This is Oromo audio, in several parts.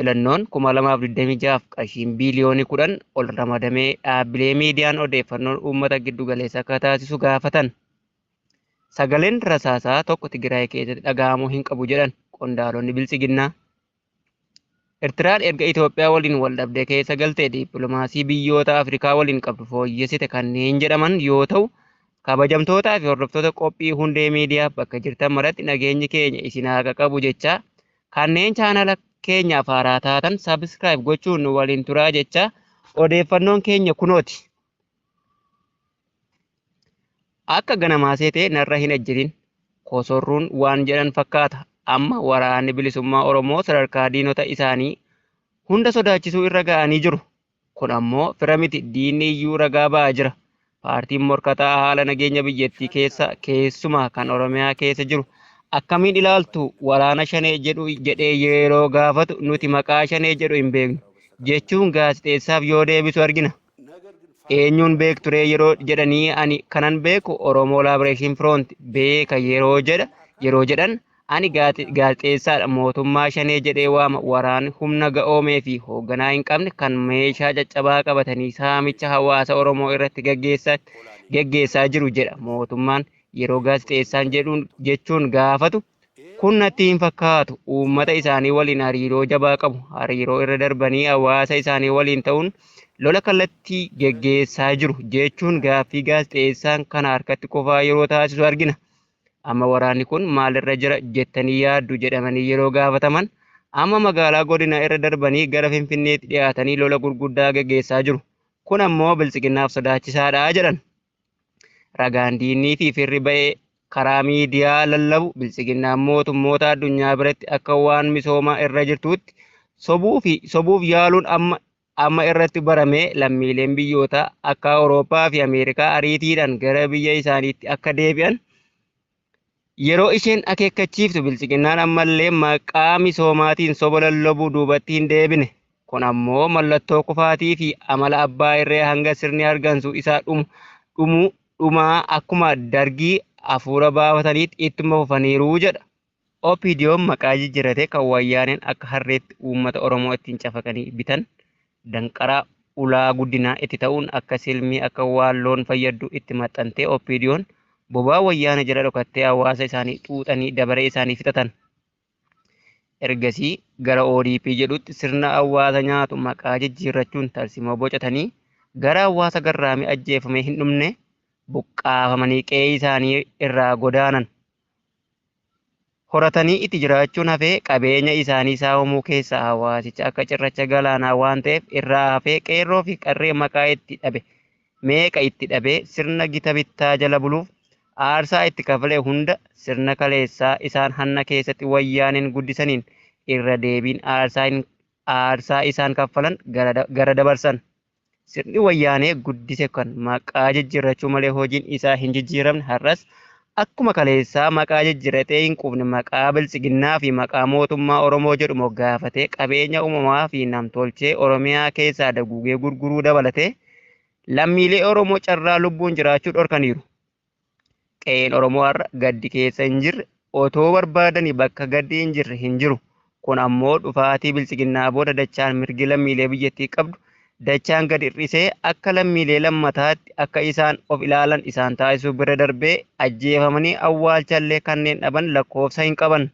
Filannoon 2026f qarshiin biiliyoonii 10 ol ramadamee dhaabbilee miidiyaan odeeffannoon uummata giddu galeessa akka taasisu gaafatan. Sagaleen rasaasaa tokko Tigraay keessatti dhaga'amuu hin qabu jedhan qondaalonni Biltsiginnaa. Ertiraan erga Itoophiyaa waliin waldhabdee keessa galtee dippiloomaasii biyyoota Afrikaa waliin qabdu fooyyessite kanneen jedhaman yoo ta'u, kabajamtootaa fi hordoftoota qophii hundee miidiyaa bakka jirtan maratti nageenyi keenya isin haa qaqqabu jechaa Kanneen chaanala keenyaaf haaraa taatan subscribe gochuun nu waliin turaa jecha odeeffannoon keenya kunooti. Akka ganamaa seetee narra hin ejjirin. Kosorruun waan jedhan fakkaata. Amma waraanni bilisummaa Oromoo sadarkaa diinota isaanii hunda sodaachisuu irra ga'anii jiru. Kun ammoo fira miti, diinni iyyuu ragaa ba'aa jira. Paartiin morkataa haala nageenya biyyattii keessa keessumaa kan Oromiyaa keessa jiru akkamiin ilaaltu waraana Shanee jedhu jedhee yeroo gaafatu nuti maqaa Shanee jedhu hin beeknu jechuun gaazexeessaaf yoo deebisu argina. Eenyuun beekturee yeroo jedhanii ani kanan beeku Oromoo Liberation Front beeka yeroo jedha yeroo jedhan Ani gaazexeessaadha, mootummaa Shanee jedhee waama, waraanni humna ga'oomee fi hoogganaa hin qabne kan meeshaa caccabaa qabatanii saamicha hawaasa Oromoo irratti gaggeessan gaggeessaa jiru jedha mootummaan yeroo gaazexeessaan jedhuun jechuun gaafatu kun natti hin fakkaatu uummata isaanii waliin hariiroo jabaa qabu hariiroo irra darbanii hawaasa isaanii waliin ta'uun lola kallattii gaggeessaa jiru jechuun gaaffii gaazexeessaan kana harkatti kufaa yeroo taasisu argina. Amma waraanni kun maal irra jira jettanii yaaddu jedhamanii yeroo gaafataman, amma magaalaa godinaa irra darbanii gara Finfinneetti dhiyaatanii lola gurguddaa geggeessaa jiru. Kun ammoo Biltsiginnaaf sodaachisaadha jedhan. Ragaan diinnii fi firri ba'e karaa miidiyaa lallabu Biltsiginnaan mootummoota addunyaa biratti akka waan misoomaa irra jirtuutti sobuu fi sobuuf yaaluun amma amma irratti barame lammiileen biyyoota akka Awurooppaa fi Ameerikaa ariitiidhaan gara biyya isaaniitti akka deebi'an yeroo isheen akeekkachiiftu bilchiginnaan ammallee maqaa misoomaatiin soba lallabuu duubatti hin deebine. Kun ammoo mallattoo kufaatii fi amala abbaa irree hanga sirni hargansuu isaa dhumu dhumuu dhumaa akkuma dargii hafuura baafataniitti ittuma fufaniiru jedha. OPDOn maqaa jijjiratee kan Wayyaaneen akka harreetti uummata Oromoo ittiin cafaqanii bitan, danqaraa, ulaa guddinaa itti ta'uun akka silmii, akka waan loon fayyaddu itti maxxantee OPDOn bobaa Wayyaanee jala dhokattee hawaasa isaanii xuuxanii dabaree isaanii fixatan. Ergasii gara ODP jedhutti sirna hawaasa nyaatu maqaa jijjiirrachuun tarsimoo bocatanii gara hawaasa garraamii ajjeefamee hin dhumne buqqaafamanii qe'ee isaanii irraa godaanan. horatanii itti jiraachuun hafee qabeenya isaanii saamamuu keessaa hawaasicha akka cirracha galaanaa waan ta'eef irraa hafee qeerroo fi qarree maqaa itti dhabe meeqa itti dhabee sirna gita bittaa jala buluuf aarsaa itti kafale hunda sirna kaleessaa isaan hanna keessatti wayyaaneen guddisaniin irra deebiin aarsaa isaan kaffalan gara dabarsan. Sirni Wayyaanee guddise kun maqaa jijjiirrachuu malee hojiin isaa hin jijjiiramne har'as akkuma kaleessaa maqaa jijjiirratee hin quufne maqaa Biltsiginnaa fi maqaa mootummaa Oromoo jedhu moggaafatee qabeenya uumamaa fi namtolchee Oromiyaa keessaa daguugee gurguruu dabalatee lammiilee Oromoo carraa lubbuun jiraachuu dhorkaniiru. Qe'een Oromoo har'a gaddi keessa hin jirre, otoo barbaadanii bakka gaddi hin jirre hin jiru. Kun ammoo dhufaatii Biltsiginnaa booda dachaan mirgi lammiilee biyyattii qabdu dachaan gad hir'isee akka lammiilee lammataatti akka isaan of ilaalan isaan taasisuu bira darbee ajjeefamanii awwaalchallee kanneen dhaban lakkoofsa hin qaban.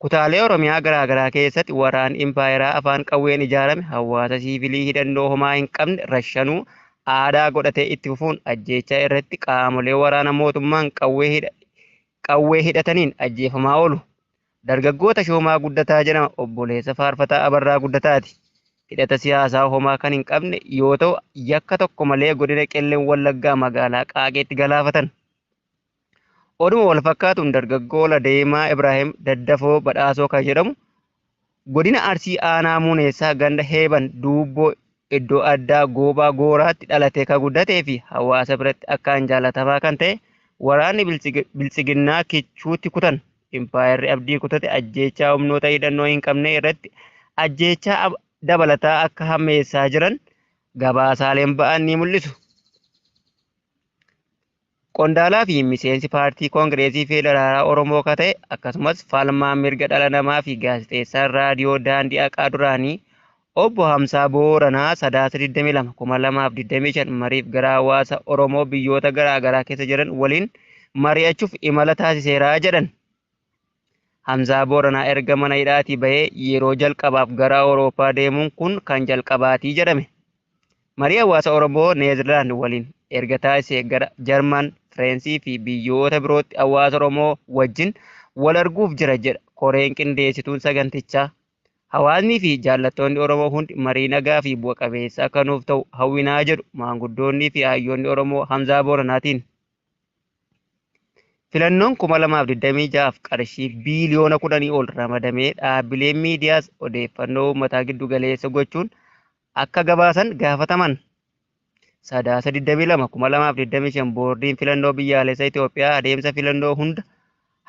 Kutaalee Oromiyaa garaagaraa keessatti waraanni impaayeraa afaan qawween ijaarame hawaasa siivilii hidhannoo homaa hin qabne rashanuu aadaa godhatee itti fufuun ajjeechaa irratti qaamolee waraana mootummaan qawwee hidha qawwee hidhataniin ajjeefamaa oolu. Dargaggoo Tashoomaa Guddataa jedhama obboleessa faarfataa Abarraa Guddataati. Hidhata siyaasaa homaa kan hin qabne yoo ta'u yakka tokko malee godina Qellem Wallaggaa magaalaa Qaaqeetti galaafatan. Oduma walfakkaatuun dargaggoo Ladeemaa Ibraahim Daddafoo Badhaasoo kan jedhamu godina Arsii aanaa Muuneessaa ganda Heeban Duubboo iddoo addaa Goobaa Gooraatti dhalatee kan guddatee fi hawaasa biratti akkaan jaalatamaa kan ta'e waraanni biltsiginnaa kichuutti kutan impaayerri abdii kutate ajjeechaa humnoota hidhannoo hin qabne irratti ajjeechaa dabalataa akka hammeessaa jiran gabaasaaleen ba'an ni mul'isu. Qondaalaa fi miseensi paartii Kongireesii Feedaraalaa Oromoo ka ta'e akkasumas falmaa mirga dhala namaa fi gaazexeessaan raadiyoo Daandii Haqaa duraanii Obbo Hamsaa Booranaa Sadaasa 22, 2025 mariif gara hawaasa Oromoo biyyoota garaa garaa keessa jiran waliin mari'achuuf imala taasiseera jedhan. Hamzaa Booranaa erga mana hidhaatii bahee yeroo jalqabaaf gara Awurooppaa deemuun kun kan jalqabaati jedhame. Marii hawaasa Oromoo Neezerlaand waliin erga taasisee gara Jarman, Fireensii fi biyyoota birootti hawaasa Oromoo wajjin wal arguuf jira jedha koreen qindeessituun sagantichaa. Hawaasnii fi jaallattoonni Oromoo hundi marii nagaa fi bu'a qabeessa akka nuuf ta'u hawwinaa jedhu maanguddoonnii fi hayyoonni Oromoo Hamzaa Booranaatiin. Filannoon 2026f qarshii biiliyoona 10 ol ramadamee dhaabbileen miidiyaas odeeffannoo uummataa giddu galeessa gochuun akka gabaasan gaafataman. Sadaasa 22,2025 Boordiin Filannoo Biyyaalessa Itoophiyaa adeemsa filannoo hunda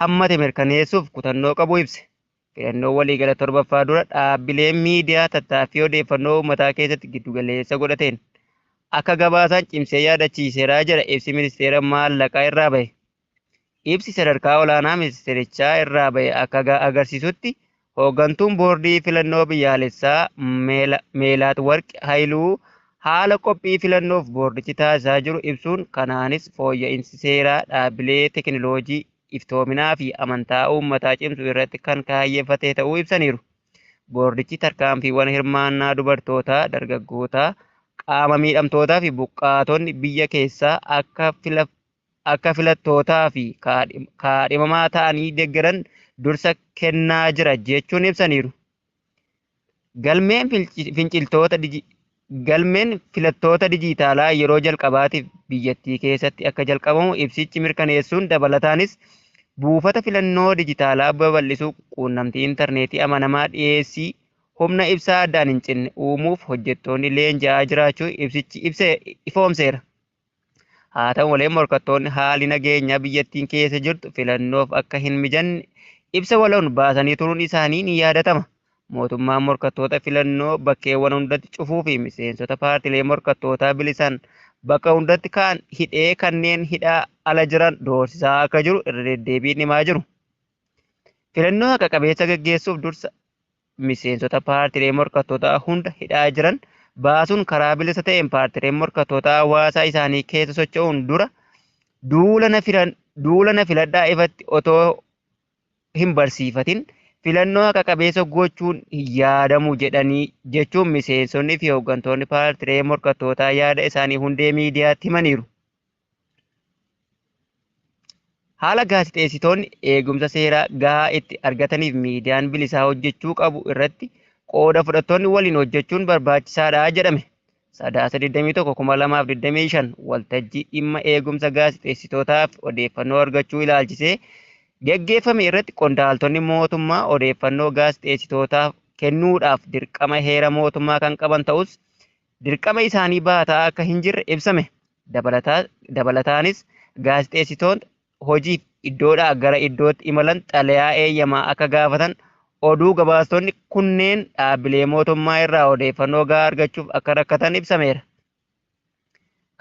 hammate mirkaneessuuf kutannoo qabu ibse. Filannoo waliigala 7ffaa dura dhaabbileen miidiyaa tattaaffii odeeffannoo uummataa keessatti giddu galeessa godhateen akka gabaasaan cimsee yaadachiiseera jedha ibsi Ministeera Maallaqaa irraa bahe. Ibsi sadarkaa olaanaa ministeerichaa irraa bahe akka agarsiisutti hooggantuun boordii filannoo biyyaalessaa Meelaat Warqi Hayiluu haala qophii filannoof boordichi taasisaa jiru ibsuun kanaanis fooyya'insi seeraa dhaabbilee teekinooloojii iftoominaa fi amantaa uummataa cimsu irratti kan kaayyeffate ta'uu ibsaniiru. Boordichi tarkaanfiiwwan hirmaannaa dubartootaa, dargaggootaa, qaama miidhamtootaa fi buqqaatonni biyya keessaa akka fila akka filattootaa fi kaadhimamaa ta'anii deeggaran dursa kennaa jira jechuun ibsaniiru. Galmeen finciltoota Galmeen filattoota dijiitaalaa yeroo jalqabaatiif biyyattii keessatti akka jalqabamu ibsichi mirkaneessuun dabalataanis buufata filannoo dijitaalaa babal'isuu, quunnamtii intarneetii amanamaa dhiyeessii humna ibsaa addaan hin cinne uumuuf hojjettoonni leenji'aa jiraachuu ibsichi ibse ifoomseera. Haa ta'u malee morkattoonni haalli nageenyaa biyyattiin keessa jirtu filannoof akka hin mijanne ibsa waloon baasanii turuun isaanii ni yaadatama. Mootummaan morkattoota filannoo bakkeewwan hundatti cufuu fi miseensota paartilee morkattootaa bilisaan bakka hundatti kaan hidhee kanneen hidhaa ala jiran doorsisaa akka jiru irra deddeebiin himaa jiru. Filannoo haqa qabeessa gaggeessuuf dursa miseensota paartilee morkattootaa hunda hidhaa jiran baasuun karaa bilisa ta'een paartileen morkattootaa hawaasaa isaanii keessa socho'uun dura duula na filan duula na filadhaa ifatti otoo hin barsiifatin filannoo haqa qabeessa gochuun hin yaadamu jedhanii jechuun miseensonni fi hooggantoonni paartilee morkattootaa yaada isaanii hundee miidiyaatti himaniiru. Haala gaazexeessitoonni eegumsa seeraa gahaa itti argataniif miidiyaan bilisaa hojjechuu qabu irratti qooda fudhattoonni waliin hojjechuun barbaachisaadha jedhame. Sadaasa 21,2025 waltajjii dhimma eegumsa gaazexeessitootaaf odeeffannoo argachuu ilaalchisee geggeeffame irratti qondaaltonni mootummaa odeeffannoo gaazexeessitootaaf kennuudhaaf dirqama heera mootummaa kan qaban ta'us dirqama isaanii baataa akka hin jirre ibsame. Dabalataanis gaazexeessitoonni hojiif iddoodhaa gara iddootti imalan xalayaa eeyyamaa akka gaafatan, oduu gabaastonni kunneen dhaabbilee mootummaa irraa odeeffannoo gahaa argachuuf akka rakkatan ibsameera.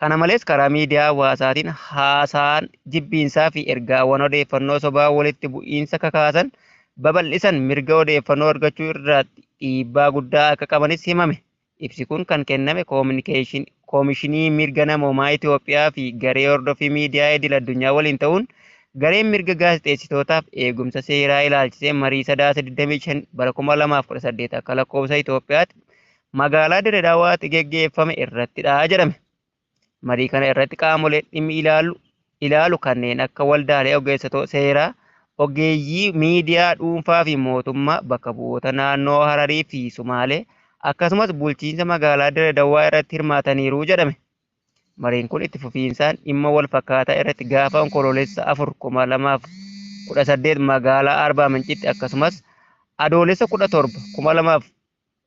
Kana malees karaa miidiyaa hawaasaatiin haasaan jibbiinsaa fi ergaawwan odeeffannoo sobaa walitti bu'iinsa kakaasan babal'isan mirga odeeffannoo argachuu irratti dhiibbaa guddaa akka qabanis himame. Ibsi kun kan kenname Koomishinii Mirga Namoomaa Itiyoophiyaa fi Garee Hordoffii Miidiyaa Idil Addunyaa waliin ta'uun gareen mirga gaazexeessitootaaf eegumsa seeraa ilaalchisee marii Sadaasa 25 bara 2018 akka lakkoofsa Itiyoophiyaatti magaalaa Dire Dawaatti geggeeffame irrattidha jedhame. Marii kana irratti qaamoleen dhimmi ilaalu ilaalu kanneen akka waldaalee ogeessotoo seeraa, ogeeyyii miidiyaa dhuunfaa fi mootummaa, bakka bu'oota naannoo Hararii fi Sumaalee, akkasumas bulchiinsa magaalaa Dire Dawaa irratti hirmaataniiru jedhame. Mariin kun itti fufiinsaan dhimma wal fakkaataa irratti gaafa Onkoloolessa 4, 2018 magaalaa Arbaa Mincitti akkasumas Adoolessa 17, 2000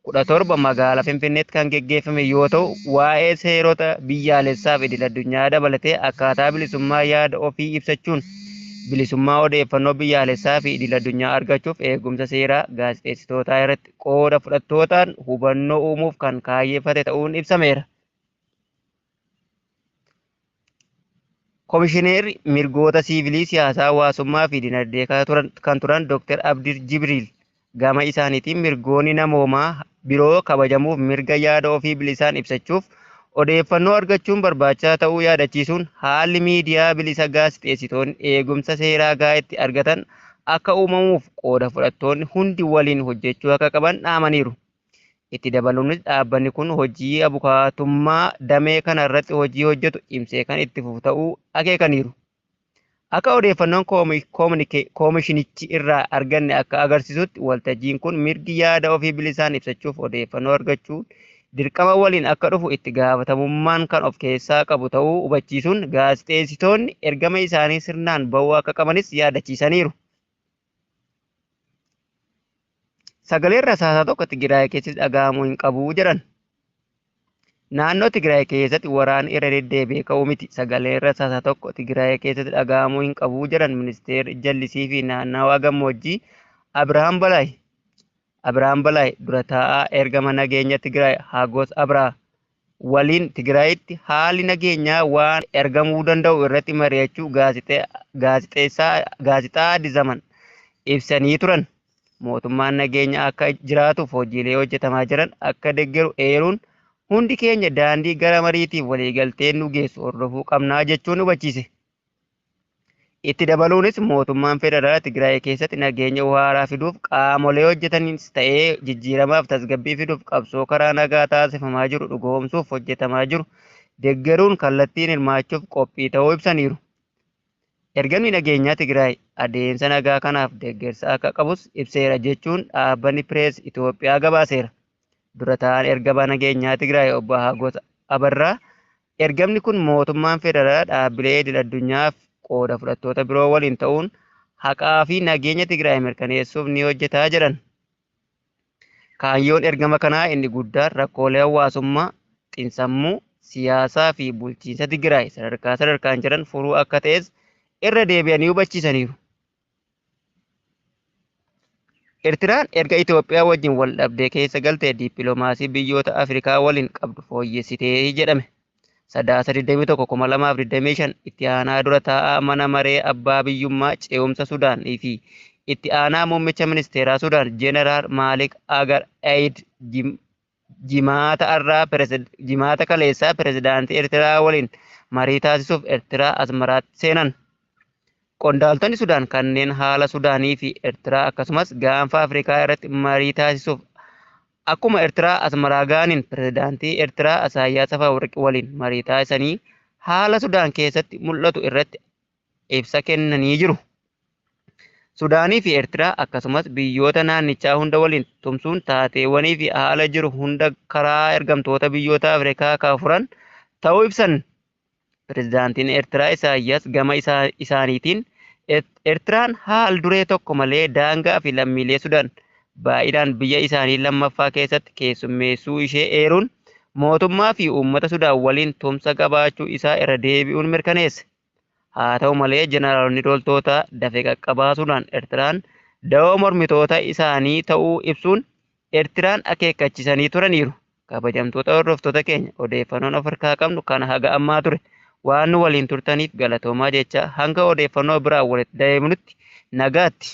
17 magaalaa Finfinneetti kan geggeeffame yoo ta'u, waa'ee seerota biyyaalessaa fi idil-addunyaa dabalatee akkaataa bilisummaa yaada ofii ibsachuun bilisummaa odeeffannoo biyyaalessaa fi idil-addunyaa argachuuf eegumsa seeraa gaazexeessitootaa irratti qooda fudhattootaan hubannoo uumuuf kan kaayyeffate ta'uun ibsameera. Komishineerri mirgoota siivilii, siyaasaa, hawaasummaa fi dinagdee kan turan Dr. Abdir Jibriil gama isaaniitiin mirgoonni namoomaa biroo kabajamuuf mirga yaada ofii bilisaan ibsachuuf odeeffannoo argachuun barbaachisaa ta'uu yaadachiisuun haalli miidiyaa bilisa gaazexeessitoonni eegumsa seeraa gahaa itti argatan akka uumamuuf qooda fudhattoonni hundi waliin hojjechuu akka qaban dhaamaniiru. Itti dabaluunis dhaabbanni kun hojii abukaatummaa damee kana irratti hojii hojjetu cimsee kan itti fufu ta'uu akeekaniiru. Akka odeeffannoon koomishinichi irraa arganne akka agarsiisutti waltajjiin kun mirgi yaada ofii bilisaan ibsachuuf odeeffannoo argachuun dirqama waliin akka dhufu itti gaafatamummaan kan of keessaa qabu ta'uu hubachiisuun gaazexeessitoonni ergama isaanii sirnaan ba'uu akka qabanis yaadachiisaniiru. Sagaleen rasaasaa tokko Tigraay keessatti dhaga'amuu hin qabu jedhan. Naannoo Tigraay keessatti waraanni irra deddeebi'ee ka'uu miti. Sagaleen rasaasaa tokko Tigraay keessatti dhaga'amuu hin qabu jedhan ministeerri jallisii fi naannawaa gammoojjii Abirahaam Balaay. Abirahaam Balaay dura taa'aa ergama nageenya Tigraay Haagoos Abraha waliin Tigraayitti haalli nageenyaa waan ergamuu danda'u irratti mari'achuu gaazexaa Addis Zaman ibsanii turan. Mootummaan nageenya akka jiraatuuf hojiilee hojjetamaa jiran akka deggeru eeruun hundi keenya daandii gara mariitiif waliigalteen nu geessu hordofuu qabnaa jechuun hubachiise. Itti dabaluunis mootummaan federaalaa Tigraay keessatti nageenya waaraa fiduuf qaamolee hojjetaniinis ta'ee jijjiiramaaf tasgabbii fiduuf qabsoo karaa nagaa taasifamaa jiru dhugoomsuuf hojjetamaa jiru deggeruun kallattiin hirmaachuuf qophii ta'uu ibsaniiru. Ergamni nageenyaa Tigraay adeemsa nagaa kanaaf deggersa akka qabus ibseera jechuun dhaabbanni Pirees Itoophiyaa gabaaseera. Dura ta'aan ergama nageenyaa Tigraay obbo Hagos Abarraa Ergamni kun mootummaan federaalaa dhaabbilee idil addunyaa fi qooda fudhattoota biroo waliin ta'uun haqaa fi nageenya Tigraay mirkaneessuuf ni hojjeta jedhan. Kaayyoon ergama kanaa inni guddaan rakkoolee hawaasummaa, xinsammuu, siyaasaa fi bulchiinsa Tigraay sadarkaa sadarkaan jiran furuu akka ta'es irra deebi'anii hubachiisaniiru. Ertiraan erga Itoophiyaa wajjin wal dhabdee keessa galtee dippiloomaasii biyyoota Afrikaa waliin qabdu fooyyessite jedhame. Sadaasa 21/2025 itti aanaa dura taa'aa mana maree abbaa biyyummaa ce'umsa Sudaan fi itti aanaa muummicha ministeeraa Sudaan Jeneraal Maalik Agar Eid Jimaata har'aa Pirezid- Jimaata kaleessaa pirezidaantii Ertiraa waliin marii taasisuuf Ertiraa Asmaraatti seenan. Qondaaltonni Sudaan kanneen haala Sudaanii fi Ertiraa akkasumas gaanfa Afrikaa irratti marii taasisuuf akkuma Ertiraa Asmaraa ga'aniin pirezidaantii Ertiraa Isaayyaas Afawarqi waliin marii taasisanii haala Sudaan keessatti mul'atu irratti ibsa kennanii jiru. Sudaanii fi Eertiraa akkasumas biyyoota naannichaa hunda waliin tumsuun taateewwanii fi haala jiru hunda karaa ergamtoota biyyoota Afrikaa kan furan ta'uu ibsan. Pirezidaantiin Eertiraa Isaayyaas gama isaaniitiin Eertiraan haal duree tokko malee daangaa fi lammiilee Sudaan baay'inaan biyya isaanii lammaffaa keessatti keessummeessuu ishee eeruun mootummaa fi uummata Sudaan waliin tumsa qabaachuu isaa irra deebi'uun mirkaneesse. Haa ta'u malee jeneraalonni loltoota dafe qaqqabaa Sudaan Ertiraan dawoo mormitoota isaanii ta'uu ibsuun Ertiraan akeekkachisanii turaniiru. Kabajamtoota hordoftoota keenya odeeffannoon of harkaa qabnu kana haga ammaa ture. Waan nu waliin turtaniif galatoomaa jechaa hanga odeeffannoo biraan walitti deebinutti nagaatti.